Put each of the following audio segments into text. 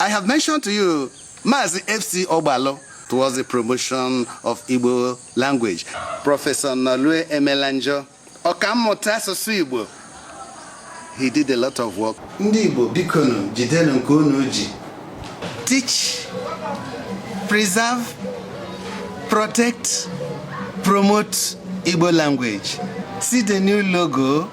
I have mentioned to you Mazi FC Ogbalu towards the promotion of Igbo language. Professor Nolue Emenanjo, ọkammụta asụsụ Igbo. He did a lot of work. Ndị Igbo bikonu jidenu nke unu ji. Teach, preserve, protect, promote Igbo language. See the new logo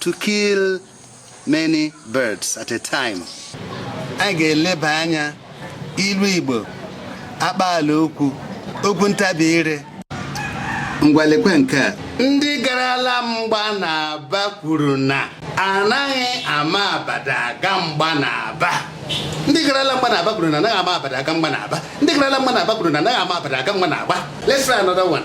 to kill many birds at a time a ga-eleba anya ilu Igbo akpaala okwu okwu ntabi ire ngwa lekwe nke a ndị garala mgba n'Aba kwuru na anaghị ama abada aga mgba n'Aba ndị garala mgba n'Aba kwuru na anaghị ama abada aga mgba n'Aba ndị garala mgba n'Aba kwuru na anaghị ama abada aga mgba na agba let's try another one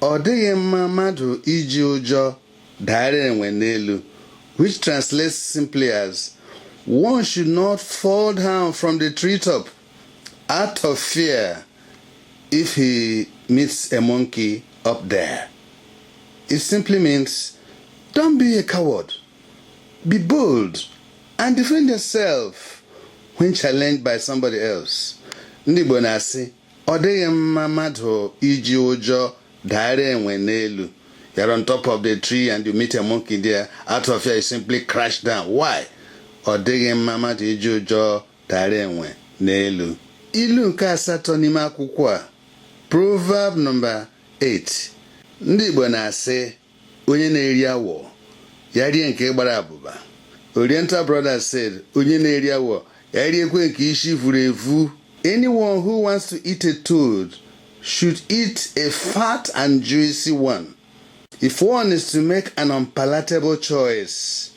Ọ dịghị mma mmadụ iji ụjọ daara enwe n'elu, which translates simply as one should not fall down from the treetop out of fear if he meets a monkey up there. It simply means don't be a coward, be bold and defend yourself when challenged by somebody else. Ndị Igbo na-asị Ọ dịghị mma mmadụ iji ụjọ daara enwe n'elu. You're on top of the tree and you meet a monkey there. Out of fear, you simply crash down. Why? Ọ dịghị mma mmadụ iji ụjọ daara enwe n'elu. Ilu nke asatọ n'ime akwụkwọ a, Proverb number 8. Ndị Igbo na-asị onye na-eri awọ ya rie nke gbara abụba Oriental Brothers said onye na-eri awọ ya riekwe nke ishi vuru ivu anyone who wants to eat a toad should eat a fat and juicy one if one is to make an unpalatable choice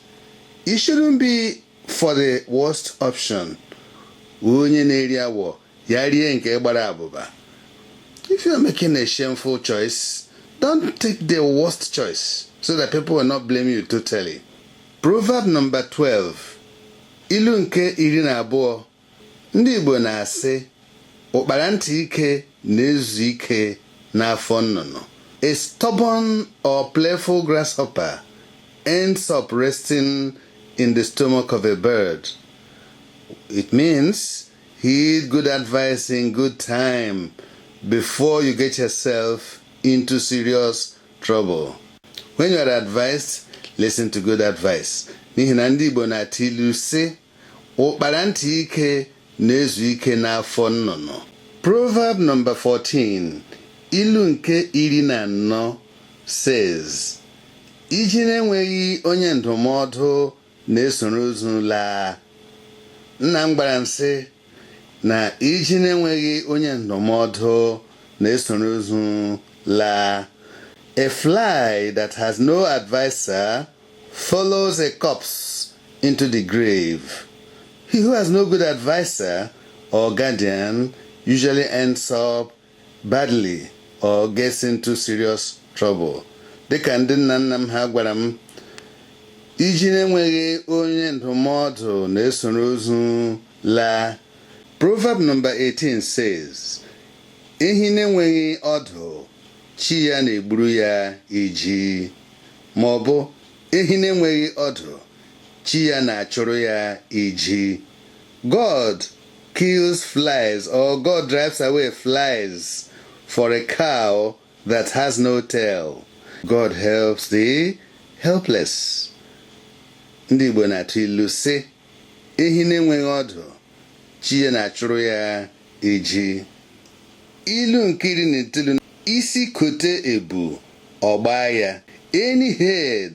it shouldn't be for the worst option onye na-eri awọ ya rie nke gbara abụba if you are making a shameful choice don't take the worst choice so that people will not blame you totally proverb number 12 ilu nke iri na abụọ ndị Igbo na-asị ụkpara ntị ike na-ezu ike n'afọ nnụnụ a stubborn or playful grasshopper ends up resting in the stomach of a bird it means Heed good advice in good time before you get yourself into serious trouble. When you are advised, listen to good advice. N'ihi na ndị Igbo na-atụ ilu sị, ụkpara ntị ike na-ezu ike n'afọ nnụnụ. Proverb number 14, ilu nke iri na anọ says, Ijiji na-enweghị onye ndụmọdụ na-esoro ozu laa nna m gwara m sị na iji na-enweghị onye ndụmọdụ na-esoro ozu laa a fly that has no adviser follows a corpse into the grave he who has no good adviser or guardian usually ends up Badly or gets into serious trouble. Dịka ndị nna nna m ha gwara m, iji na-enweghị onye ndụmọdụ na-esoro ozu laa. Proverb number 18 says, Ehi na-enweghị ọdụ, chi ya na-egburu ya iji. Ma ọ bụ, ehi na-enweghị ọdụ, chi ya na-achụrụ ya iji. God kills flies or God drives away flies for a cow that has no tail. God helps the helpless. Ndị Igbo na-atụ ilu sị ehi na-enweghị ọdụ chi ya na-achụrụ ya iji ilu nke iri na itoolu isi kote ebu ọ gbaa ya any head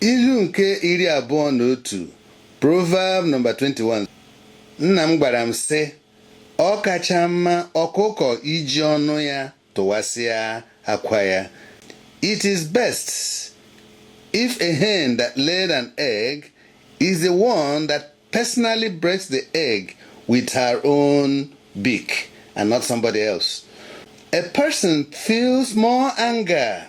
Ilu nke iri abụọ na otu Proverb number 21 Nna m gwara m sị ọ kacha mma ọkụkọ iji ọnụ ya tụwasịa akwa ya It is best if a hen that laid an egg is the one that personally breaks the egg with her own beak and not somebody else. A person feels more anger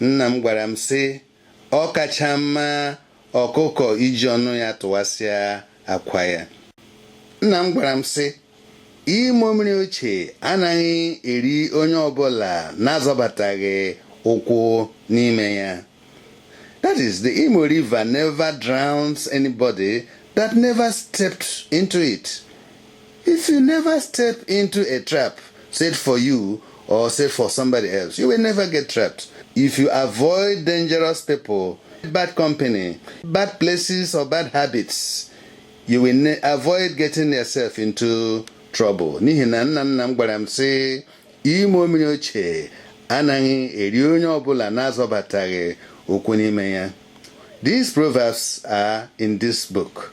Nna m gwara m sị ọ kacha mma ọkụkọ iji ọnụ ya tụwasịa akwa ya. Nna m gwara m sị Imo mmiri ochie anaghị eri onye ọbụla na-azọbataghị ụkwụ n'ime ya. That is, the Imo River never drowns anybody that never stepped into it. If you never step into a trap set for you or set for somebody else, you will never get trapped. If you avoid dangerous people, bad company, bad places, or bad habits, you will avoid getting yourself into trouble. N'ihi na nna nna m gwara m sị Imo mmiri ochie anaghị eri onye ọbụla na-azọbataghị ụkwụ n'ime ya. These proverbs are in this book.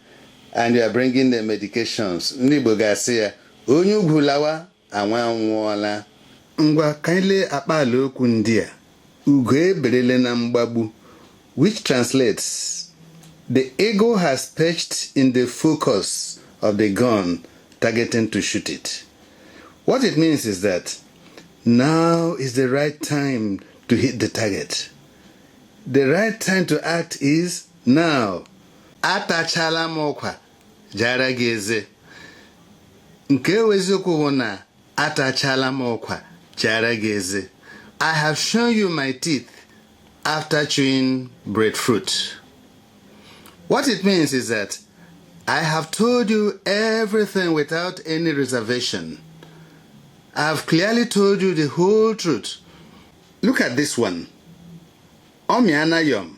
and you are bringing the medications ndị Igbo ga-asị ya onye ugwu lawa nwa anwụọla ngwa ka anyị lee akpaala okwu ndị a ugo eberele na mgbagbu which translates the eagle has perched in the focus of the gun targeting to shoot it what it means is that now is the right time to hit the target the right time to act is now atachala m ụkwa jara gị eze nke eziokwu bụ na atachala m ụkwa jara gị eze I have shown you my teeth after chewing breadfruit. What it means is that I have told you everything without any reservation. I have clearly told you the whole truth. Look at this one. Omianayom.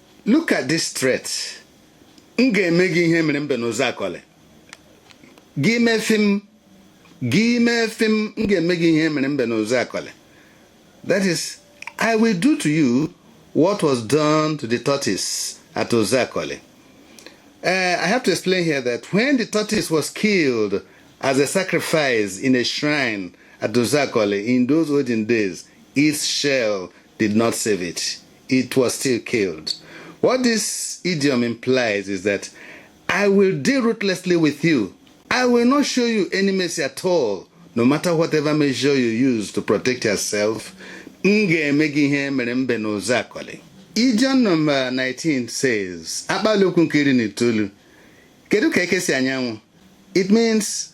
look at this threat m ga-eme gị ihe mere mbe n'Ụzọakọlị gị mefie m gị mefie m m ga-eme gị ihe mere mbe n'Ụzọakọlị that is i will do to you what was done to the tortoise at Ụzọakọlị Uh, I have to explain here that when the tortoise was killed as a sacrifice in a shrine at Ụzọakọlị in those olden days, its shell did not save it. it was still killed. What this idiom implies is that I will deal ruthlessly with you. I will not show you any mercy at all, no matter whatever measure you use to protect yourself. M ga-eme gị ihe mere mbe n'Ụzọakọlị. Idiom number 19 says, akpaalaokwu nke iri na itoolu. Kedu ka eke si anya anwụ? It means